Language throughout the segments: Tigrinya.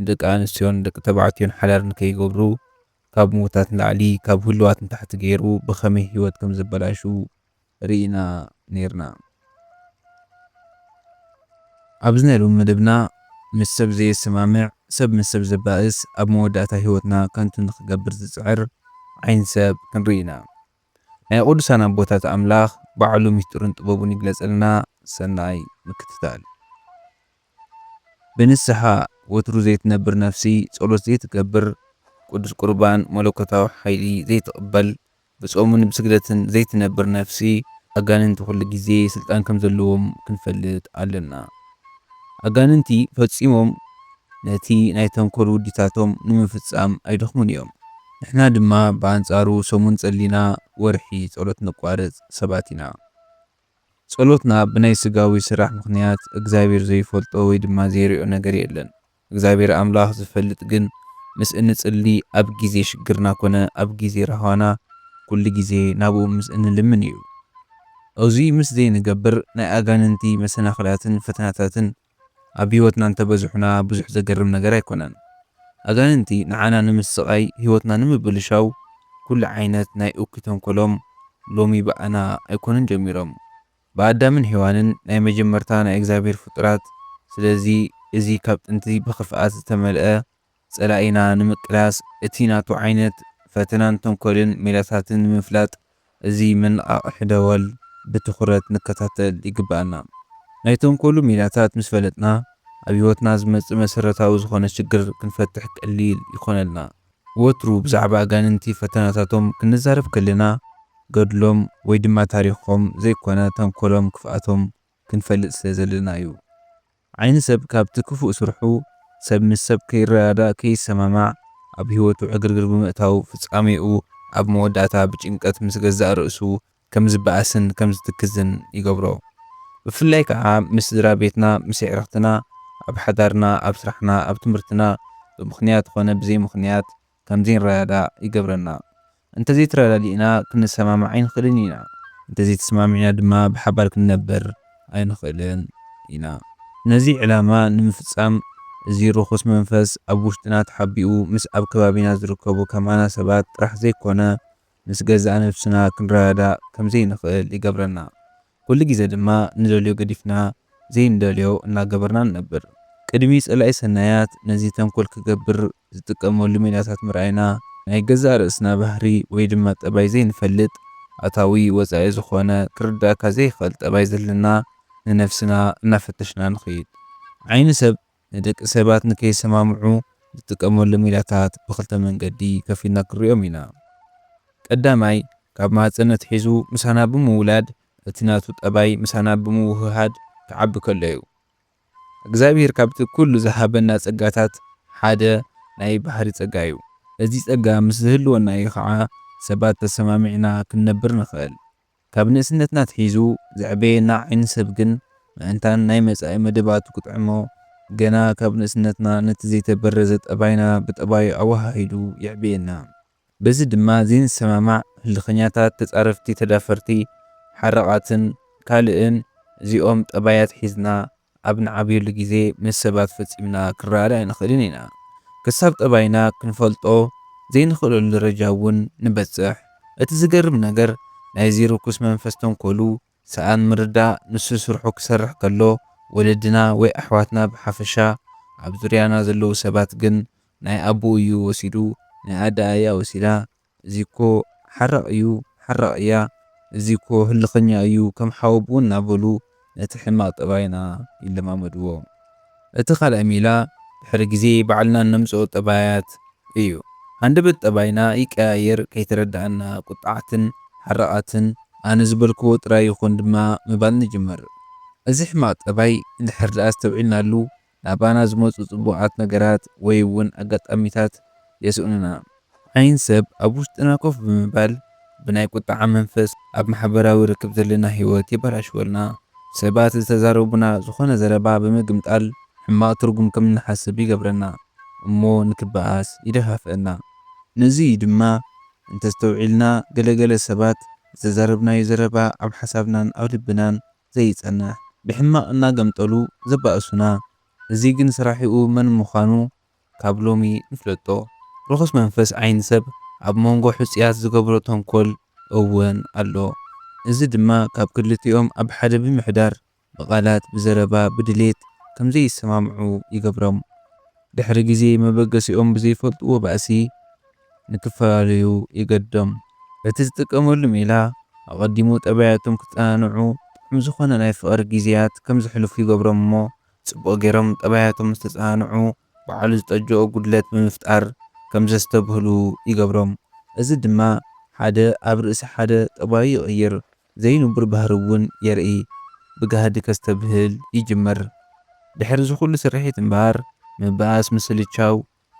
ንደቂ ኣንስትዮን ንደቂ ተባዕትዮን ሓዳር ንከይገብሩ ካብ ምውታት ንላዕሊ ካብ ህሉዋት ንታሕቲ ገይሩ ብኸመይ ህይወት ከም ዘበላሹ ርኢና ነይርና። ኣብዚ ናይ ሎሚ መደብና ምስ ሰብ ዘየሰማምዕ፣ ሰብ ምስ ሰብ ዘባእስ፣ ኣብ መወዳእታ ህይወትና ከንቱ ንኽገብር ዝጽዕር ዓይኒ ሰብ ክንርኢ ኢና። ናይ ቅዱሳን ኣቦታት ኣምላኽ ባዕሉ ምስጢሩን ጥበቡን ይግለጸልና። ሰናይ ምክትታል። ብንስሓ ወትሩ ዘይትነብር ነፍሲ፣ ጸሎት ዘይትገብር፣ ቅዱስ ቍርባን መለኮታዊ ሓይሊ ዘይትቕበል፣ ብጾምን ብስግደትን ዘይትነብር ነፍሲ፣ ኣጋንንቲ ኵሉ ግዜ ስልጣን ከም ዘለዎም ክንፈልጥ ኣሎና። ኣጋንንቲ ፈጺሞም ነቲ ናይ ተንኰል ውዲታቶም ንምፍጻም ኣይደኽሙን እዮም። ንሕና ድማ ብኣንጻሩ ሰሙን ጸሊና ወርሒ ጸሎት ነቋርጽ ሰባት ኢና። ጸሎትና ብናይ ስጋዊ ስራሕ ምኽንያት እግዚኣብሔር ዘይፈልጦ ወይ ድማ ዘይሪኦ ነገር የለን። እግዚኣብሔር ኣምላኽ ዝፈልጥ ግን ምስ እንጽሊ ኣብ ጊዜ ሽግርና ኮነ ኣብ ጊዜ ራህዋና ኩሉ ጊዜ ናብኡ ምስ እንልምን እዩ። እዙይ ምስ ዘይንገብር ናይ ኣጋንንቲ መሰናኽላትን ፈተናታትን ኣብ ህይወትና እንተበዝሑና ብዙሕ ዘገርም ነገር ኣይኮነን። ኣጋንንቲ ንዓና ንምስቓይ ህይወትና ንምብልሻው ኩሉ ዓይነት ናይ እኩይ ተንኮሎም ሎሚ ብኣና ኣይኮኑን ጀሚሮም ብኣዳምን ሄዋንን ናይ መጀመርታ ናይ እግዚኣብሔር ፍጡራት ስለዚ እዚ ካብ ጥንቲ ብኽፍኣት ዝተመልኣ ጸላኢና ንምቅላስ እቲ ናቱ ዓይነት ፈተናን ተንኮልን ሜላታትን ንምፍላጥ እዚ መነቓቕሒ ደወል ብትኹረት ንከታተል ይግበኣና። ናይ ተንኮሉ ሜላታት ምስ ፈለጥና ኣብ ህይወትና ዝመጽእ መሰረታዊ ዝኾነ ሽግር ክንፈትሕ ቀሊል ይኾነልና። ወትሩ ብዛዕባ ኣጋንንቲ ፈተናታቶም ክንዛረብ ከለና ገድሎም ወይ ድማ ታሪኾም ዘይኮነ ተንኮሎም ክፍኣቶም ክንፈልጥ ስለ ዘለና'ዩ። ዓይኒ ሰብ ካብቲ ክፉእ ስርሑ፣ ሰብ ምስ ሰብ ከይረዳዳእ፣ ከይሰማማዕ፣ ኣብ ህይወቱ ዕግርግር ብምእታው፣ ፍጻሜኡ ኣብ መወዳእታ ብጭንቀት ምስ ገዛእ ርእሱ ከም ዝበኣስን ከም ዝትክዝን ይገብሮ። ብፍላይ ከኣ ምስ ስድራ ቤትና፣ ምስ የዕርኽትና፣ ኣብ ሓዳርና፣ ኣብ ስራሕና፣ ኣብ ትምህርትና፣ ብምኽንያት ኮነ ብዘይምኽንያት፣ ከምዚ ንረዳዳእ ይገብረና። እንተዘይተረዳዲእና ክንሰማማዕ ኣይንኽእልን ኢና። እንተዘይተሰማሚዕና ድማ ብሓባር ክንነበር ኣይንኽእልን ኢና። ነዚ ዕላማ ንምፍጻም እዚ ርኹስ መንፈስ ኣብ ውሽጥና ተሓቢኡ ምስ ኣብ ከባቢና ዝርከቡ ከማና ሰባት ጥራሕ ዘይኮነ ምስ ገዛእ ነብስና ክንረዳዳእ ከምዘይንኽእል ይገብረና። ኩሉ ግዜ ድማ ንደልዮ ገዲፍና ዘይንደልዮ እናገበርና ንነብር። ቅድሚ ጸላኢ ሰናያት ነዚ ተንኮል ክገብር ዝጥቀመሉ ሜላታት ምርኣይና፣ ናይ ገዛእ ርእስና ባህሪ ወይ ድማ ጠባይ ዘይንፈልጥ፣ ኣታዊ ወጻኢ ዝኾነ ክርድኣካ ዘይክእል ጠባይ ዘለና ንነብስና እናፈተሽና ንኽይድ። ዓይኒ ሰብ ንደቂ ሰባት ንከይሰማምዑ ንጥቀመሎም ሜላታት ብኽልተ መንገዲ ከፊልና ክንሪኦም ኢና። ቀዳማይ፣ ካብ ማህጸን ኣትሒዙ ምሳና ብምውላድ እቲ ናቱ ጠባይ ምሳና ብምውህሃድ ክዓቢ ከሎ'ዩ። እግዚኣብሄር ካብቲ ኩሉ ዝሃበና ጸጋታት ሓደ ናይ ባህሪ ጸጋ'ዩ። እዚ ጸጋ ምስ ዝህልወና'ዩ ኸኣ ሰባት ተሰማሚዕና ክንነብር ንኽእል። ካብ ንእስነትና ኣትሒዙ ዘዕበየና ዓይኒ-ሰብ ግን መእንታን ናይ መጻኢ መደባቱ ክጥዕሞ፣ ገና ካብ ንእስነትና ነቲ ዘይተበረዘ ጠባይና ብጠባዩ ኣወሃሂዱ የዕብየና። በዚ ድማ ዘይንሰማማዕ፣ ህልኸኛታት፣ ተጻረፍቲ፣ ተዳፈርቲ፣ ሓራቓትን ካልእን እዚኦም ጠባያት ሒዝና ኣብ ንዓብየሉ ግዜ ምስ ሰባት ፈጺምና ክንረኣድ ኣይንኽእልን ኢና። ክሳብ ጠባይና ክንፈልጦ ዘይንኽእለሉ ደረጃ እውን ንበጽሕ። እቲ ዝገርም ነገር ናይዚ ርኩስ መንፈስ ተንኮሉ ሰኣን ምርዳእ ንሱ ስርሑ ክሰርሕ ከሎ ወለድና ወይ ኣሕዋትና ብሓፈሻ ኣብ ዙርያና ዘለዉ ሰባት ግን ናይ ኣቡኡ እዩ ወሲዱ ናይ ኣደኣ እያ ወሲዳ እዚ እኮ ሓራቕ እዩ ሓራቕ እያ እዚ እኮ ህልኸኛ እዩ ከም ሓወብኡ እናበሉ ነቲ ሕማቕ ጠባይና ይለማመድዎ። እቲ ካልኣይ ሜላ ድሕሪ ግዜ ባዕልና እነምጽኦ ጠባያት እዩ። ሃንደበት ጠባይና ይቀያየር ከይተረድኣና ቁጥዓትን ሓራቓትን ኣነ ዝበልክዎ ጥራይ ይኹን ድማ ምባል ንጅምር። እዚ ሕማቕ ጠባይ እንድሕር ድኣ ኣስተውዒልናሉ ናባና ዝመጹ ጽቡቓት ነገራት ወይ እውን ኣጋጣሚታት የስእኑና። ዓይን ሰብ ኣብ ውሽጥና ኮፍ ብምባል ብናይ ቁጥዓ መንፈስ ኣብ ማሕበራዊ ርክብ ዘለና ህይወት የበላሽወልና። ሰባት ዝተዛረቡና ዝኾነ ዘረባ ብምግምጣል ሕማቕ ትርጉም ከም እንሓስብ ይገብረና እሞ ንክበኣስ ይደፋፍእና። ነዚ እዩ ድማ እንተስተውዒልና ገለ ገለ ሰባት ዝተዛረብናዮ ዘረባ ኣብ ሓሳብናን ኣብ ልብናን ዘይጸንሕ ብሕማቅ እናገምጠሉ ዘባእሱና እዚ ግን ስራሒኡ መን ምኻኑ ካብ ሎሚ ንፍለጦ ርኹስ መንፈስ ዓይኒ ሰብ ኣብ ሞንጎ ሕጹያት ዝገብሮ ተንኮል እወን ኣሎ እዚ ድማ ካብ ክልቲኦም ኣብ ሓደ ብምሕዳር ብቃላት ብዘረባ ብድሌት ከምዘይሰማምዑ ይገብሮም ድሕሪ ግዜ መበገሲኦም ብዘይፈልጥዎ ባእሲ ንክፈላለዩ ይገድዶም። በቲ ዝጥቀመሉ ሜላ ኣቐዲሙ ጠባያቶም ክጸናንዑ፣ ጥዑም ዝኾነ ናይ ፍቕሪ ግዜያት ከም ዘሕልፉ ይገብሮም እሞ ጽቡቕ ጌሮም ጠባያቶም ምስ ተጸናንዑ ባዕሉ ዝጠጀኦ ጉድለት ብምፍጣር ከም ዘስተብህሉ ይገብሮም። እዚ ድማ ሓደ ኣብ ርእሲ ሓደ ጠባዩ ይቕይር ዘይንቡር ባህሪ እውን የርኢ ብጋህዲ ከስተብህል ይጅምር። ድሕሪ እዚ ኩሉ ስርሒት እምበኣር ምብኣስ፣ ምስልቻው፣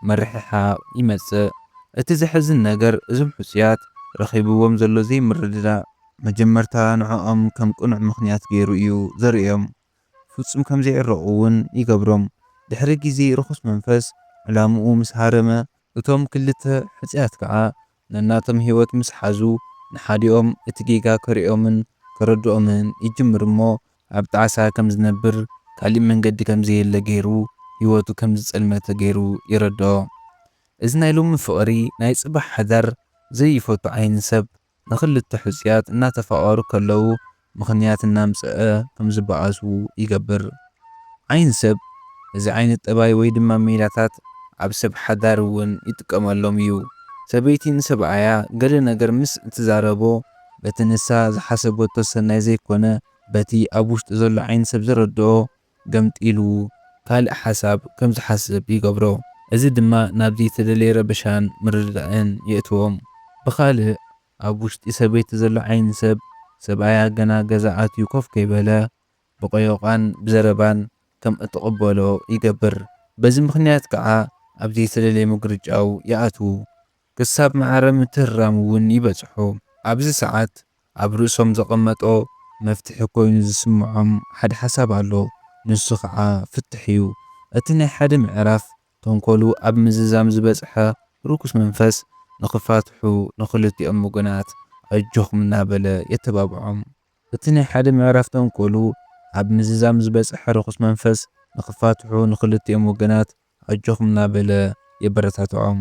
ምርሕሓቕ ይመጽእ። እቲ ዘሕዝን ነገር እዞም ሕጹያት ረኺብዎም ዘሎ ዘይምርድዳእ መጀመርታ ንዕኦም ከም ቅኑዕ ምኽንያት ገይሩ እዩ ዘርእዮም። ፍጹም ከም ዘይዕረቑ እውን ይገብሮም። ድሕሪ ግዜ ርኹስ መንፈስ ዕላምኡ ምስ ሃረመ፣ እቶም ክልተ ሕጹያት ከኣ ነናቶም ህይወት ምስ ሓዙ፣ ንሓዲኦም እቲ ጌጋ ከርእዮምን ከረድኦምን ይጅምር እሞ፣ ኣብ ጣዕሳ ከም ዝነብር፣ ካሊእ መንገዲ ከም ዘየለ ገይሩ፣ ህይወቱ ከም ዝጸልመተ ገይሩ የረድኦ። እዚ ናይ ሎሚ ፍቕሪ ናይ ጽባሕ ሓዳር ዘይፈቱ ዓይኒ ሰብ፣ ንኽልተ ሕጹያት እናተፋቐሩ ከለዉ ምኽንያት እናምጸኣ ከምዝበኣሱ ይገብር። ዓይኒ ሰብ እዚ ዓይነት ጠባይ ወይ ድማ ሜላታት ኣብ ሰብ ሓዳር እውን ይጥቀመሎም እዩ። ሰበይቲ ንሰብኣያ ገለ ነገር ምስ እትዛረቦ በቲ ንሳ ዝሓሰበቶ ሰናይ ዘይኮነ በቲ ኣብ ውሽጡ ዘሎ ዓይኒ ሰብ ዝረድኦ ገምጢሉ ካልእ ሓሳብ ከምዝሓስብ ይገብሮ። እዚ ድማ ናብ ዘይተደልየ ረበሻን ምርድዳእን የእትዎም። ብኻልእ ኣብ ውሽጢ ሰበይቲ ዘሎ ዓይኒ ሰብ ሰብኣያ ገና ገዛ ኣትዩ ኮፍ ከይበለ ብቐዮቓን ብዘረባን ከም እትቕበሎ ይገብር። በዚ ምኽንያት ከኣ ኣብ ዘይተደልየ ምግርጫው ይኣትዉ። ክሳብ ማዕረ ምትህርራም እውን ይበጽሑ። ኣብዚ ሰዓት ኣብ ርእሶም ዘቐመጦ መፍትሒ ኮይኑ ዝስምዖም ሓደ ሓሳብ ኣሎ። ንሱ ከኣ ፍትሕ እዩ። እቲ ናይ ሓደ ምዕራፍ ተንኮሉ ኣብ ምዝዛም ዝበጽሐ ርኩስ መንፈስ ንኽፋትሑ ንኽልቲኦም ወገናት ኣጆኹም እናበለ የተባብዖም። እቲ ናይ ሓደ ምዕራፍ ተንኮሉ ኣብ ምዝዛም ዝበጽሐ ርኹስ መንፈስ ንኽፋትሑ ንኽልቲኦም ወገናት ኣጆኹም እናበለ የበረታትዖም።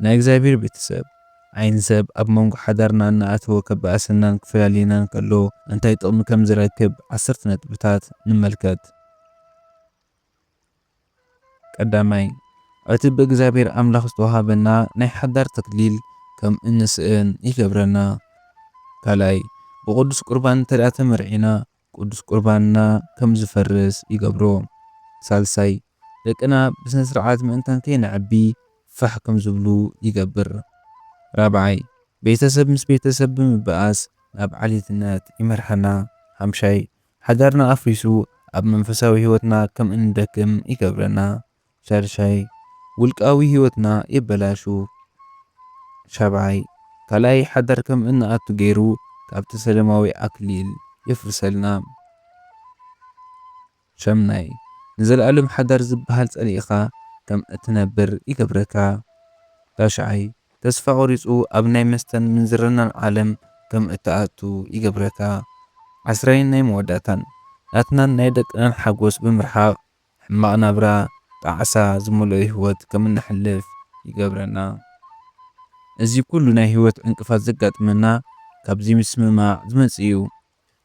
ናይ እግዚኣብሔር ቤተሰብ፣ ዓይኒ ሰብ ኣብ መንጎ ሓዳርና እናኣተወ ከባእሰናን ክፈላልየናን ከሎ እንታይ ጥቕሚ ከምዝረክብ ዓሰርተ ነጥብታት ንመልከት። ቀዳማይ፣ እቲ ብእግዚኣብሔር ኣምላኽ ዝተወሃበና ናይ ሓዳር ተክሊል ከም እንስእን ይገብረና። ካልኣይ፣ ብቅዱስ ቁርባን እንተድኣ ተመርዒና ቅዱስ ቁርባንና ከም ዝፈርስ ይገብሮ። ሳልሳይ፣ ደቅና ብስነ ስርዓት ምእንታን ከይነዕቢ ፋሕ ከም ዝብሉ ይገብር። ራብዓይ፣ ቤተሰብ ምስ ቤተሰብ ብምብኣስ ናብ ዓሌትነት ይመርሓና። ሓምሻይ፣ ሓዳርና ኣፍሪሱ ኣብ መንፈሳዊ ሕይወትና ከም እንደክም ይገብረና። ሻድሻይ፣ ውልቃዊ ሕይወትና የበላሹ። ሻብዓይ፣ ካልኣይ ሓዳር ከም እንኣቱ ገይሩ ካብቲ ሰለማዊ ኣክሊል የፍርሰልና። ሻምናይ፣ ንዘለኣለም ሓዳር ዝበሃል ጸሊእኻ ከም እትነብር ይገብረካ። ታሽዓይ፣ ተስፋ ቆሪጹ ኣብ ናይ መስተን ምንዝርናን ዓለም ከም እትኣቱ ይገብረካ። ዓስራይን ናይ መወዳእታን፣ ናትናን ናይ ደቅናን ሓጎስ ብምርሓቕ፣ ሕማቕ ናብራ፣ ጣዕሳ ዝመልኦ ህይወት ከም እነሕልፍ ይገብረና። እዚ ኩሉ ናይ ህይወት ዕንቅፋት ዘጋጥመና ካብዚ ምስምማዕ ዝመጽእ እዩ።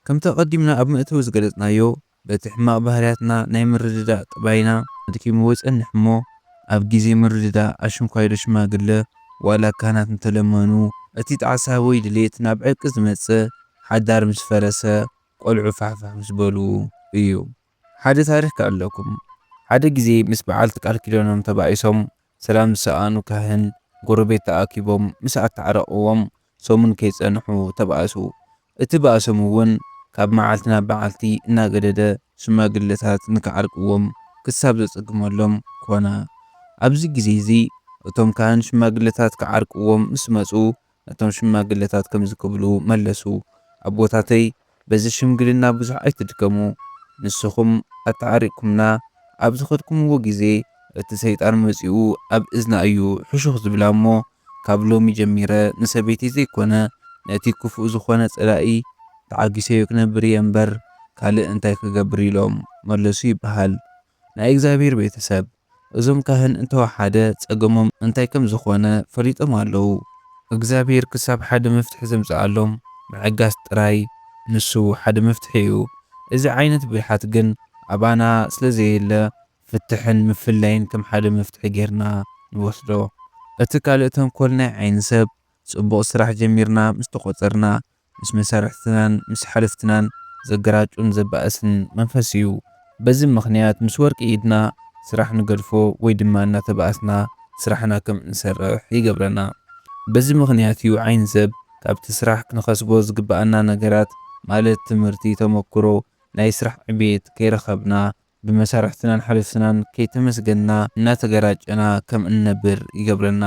ከምቲ ኣቐዲምና ኣብ መእተዊ ዝገለጽናዮ፣ በቲ ሕማቕ ባህርያትና ናይ ምርድዳእ ጠባይና ኣድኪምዎ ይጸንሕ እሞ፣ ኣብ ግዜ ምርድዳእ ኣሽንኳይዶ ሽማግለ ዋላ ካህናት እንተለመኑ፣ እቲ ጣዕሳ ወይ ድሌት ናብ ዕርቂ ዝመጽእ ሓዳር ምስ ፈረሰ፣ ቆልዑ ፋሕፋሕ ምስ በሉ እዩ። ሓደ ታሪኽ ክኣልለኩም። ሓደ ግዜ ምስ በዓልቲ ቃል ኪዳኖም ተባኢሶም ሰላም ዝሰኣኑ ካህን፣ ጎረቤት ተኣኪቦም ምስ ኣተዓረቕዎም፣ ሰሙን ከይጸንሑ ተባእሱ። እቲ ባእሶም'ውን ካብ መዓልቲ ናብ መዓልቲ እናገደደ ሽማግለታት ንክዓርቅዎም ክሳብ ዘጸግመሎም ኮነ። ኣብዚ ግዜ'ዚ እቶም ካህን ሽማግለታት ክዓርቅዎም ምስ መጹ ነቶም ሽማግለታት ከምዚ ክብሉ መለሱ፣ ኣቦታተይ፣ በዚ ሽምግልና ብዙሕ ኣይትድከሙ ንስኹም ኣተዓሪቅኩምና ኣብ ዝኸድኩምዎ ግዜ እቲ ሰይጣን መጺኡ ኣብ እዝና እዩ ሕሹኽ ዝብላ እሞ ካብ ሎሚ ጀሚረ ንሰበይተይ ዘይኮነ ነቲ ክፉእ ዝኾነ ጸላኢ ተዓጊሰዮ ክነብር እየ እምበር ካልእ እንታይ ክገብር ኢሎም መለሱ ይበሃል ናይ እግዚኣብሔር ቤተሰብ እዞም ካህን እንተወሓደ ጸገሞም እንታይ ከም ዝኾነ ፈሊጦም ኣለዉ። እግዚኣብሔር ክሳብ ሓደ መፍትሒ ዘምጽኣሎም ምዕጋስ ጥራይ ንሱ ሓደ መፍትሒ እዩ። እዚ ዓይነት ብልሓት ግን ኣባና ስለ ዘየለ ፍትሕን ምፍላይን ከም ሓደ መፍትሒ ጌርና ንወስዶ። እቲ ካልእ ተንኮል ናይ ዓይኒ ሰብ ጽቡቕ ስራሕ ጀሚርና ምስ ተቖጸርና ምስ መሳርሕትናን ምስ ሓለፍትናን ዘገራጩን ዘባእስን መንፈስ እዩ። በዚ ምኽንያት ምስ ወርቂ ኢድና ስራሕ ንገድፎ ወይ ድማ እናተባኣስና ስራሕና ከም እንሰርሕ ይገብረና። በዚ ምኽንያት እዩ ዓይኒ ሰብ ካብቲ ስራሕ ክንኸስቦ ዝግበኣና ነገራት ማለት ትምህርቲ፣ ተመኩሮ፣ ናይ ስራሕ ዕቤት ከይረኸብና ብመሳርሕትናን ሓለፍትናን ከይተመስገንና እናተገራጨና ከም እንነብር ይገብረና።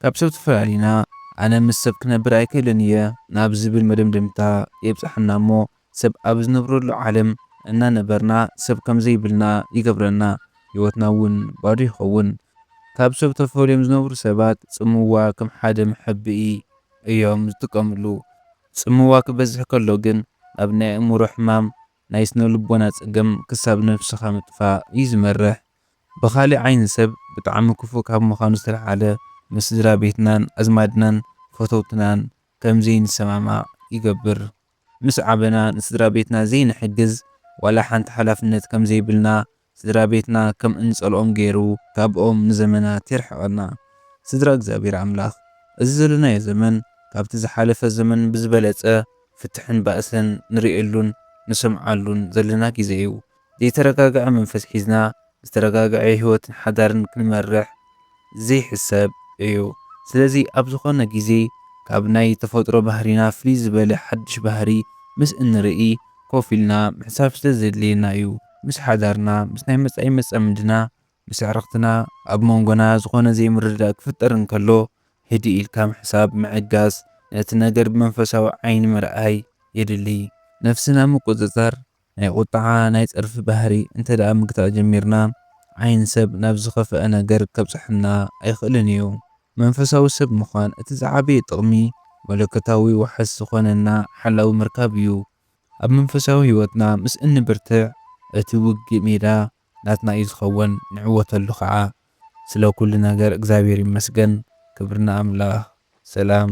ካብ ሰብ ተፈላሊና ኣነ ምስ ሰብ ክነብር ኣይክእልን እየ ናብ ዝብል መደምደምታ የብጽሓና እሞ ሰብ ኣብ ዝነብረሉ ዓለም እናነበርና ሰብ ከም ዘይብልና ይገብረና ህይወትና እውን ባዶ ይኸውን። ካብ ሰብ ተፈልዮም ዝነብሩ ሰባት ጽምዋ ከም ሓደ መሐብኢ እዮም ዝጥቀምሉ። ጽምዋ ክበዝሕ ከሎ ግን ናብ ናይ ኣእምሮ ሕማም ናይ ስነልቦና ጸገም ክሳብ ነብስኻ ምጥፋእ እዩ ዝመርሕ። ብኻልእ ዓይኒ ሰብ ብጣዕሚ ክፉእ ካብ ምኻኑ ዝተልዓለ ምስ ስድራቤትናን ኣዝማድናን ፈተውትናን ከም ዘይንሰማማዕ ይገብር። ምስ ዓበና ንስድራቤትና ዘይንሕግዝ ዋላ ሓንቲ ሓላፍነት ከም ዘይብልና ስድራቤትና ከም እንጸልኦም ገይሩ ካብኦም ንዘመናት የርሕቀና። ስድራ እግዚኣብሔር ኣምላኽ እዚ ዘለናዮ ዘመን ካብቲ ዝሓለፈ ዘመን ብዝበለጸ ፍትሕን ባእስን ንርእየሉን ንሰምዓሉን ዘለና ግዜ እዩ። ዘይተረጋግዐ መንፈስ ሒዝና ዝተረጋግዐ ሕይወትን ሓዳርን ክንመርሕ ዘይሕሰብ እዩ። ስለዚ ኣብ ዝኾነ ግዜ ካብ ናይ ተፈጥሮ ባህሪና ፍልይ ዝበለ ሓድሽ ባህሪ ምስ እንርእይ ኮፍ ኢልና ምሕሳብ ስለዘድልየና እዩ። ምስ ሓዳርና፣ ምስ ናይ መጻኢ መጻምድና፣ ምስ ኣዕርኽትና ኣብ መንጎና ዝኾነ ዘይምርድዳእ ክፍጠር እንከሎ፣ ህድእ ኢልካ ምሕሳብ፣ ምዕጋስ፣ ነቲ ነገር ብመንፈሳዊ ዓይኒ ምርኣይ የድሊ። ነፍስና ምቁጽጻር፣ ናይ ቁጥዓ፣ ናይ ጸርፊ ባህሪ እንተድኣ ምግታእ ጀሚርና፣ ዓይኒ ሰብ ናብ ዝኸፍኣ ነገር ከብጽሓና ኣይክእልን እዩ። መንፈሳዊ ሰብ ምዃን እቲ ዝዓበየ ጥቕሚ፣ መለኮታዊ ዋሕስ ዝኾነና ሓላዊ ምርካብ እዩ። ኣብ መንፈሳዊ ህይወትና ምስ እንብርትዕ፣ እቲ ውግእ ሜዳ ናትና እዩ ዝኸውን፣ ንዕወተሉ ኸኣ። ስለ ኩሉ ነገር እግዚኣብሔር ይመስገን። ክብሪ ንኣምላኽ። ሰላም።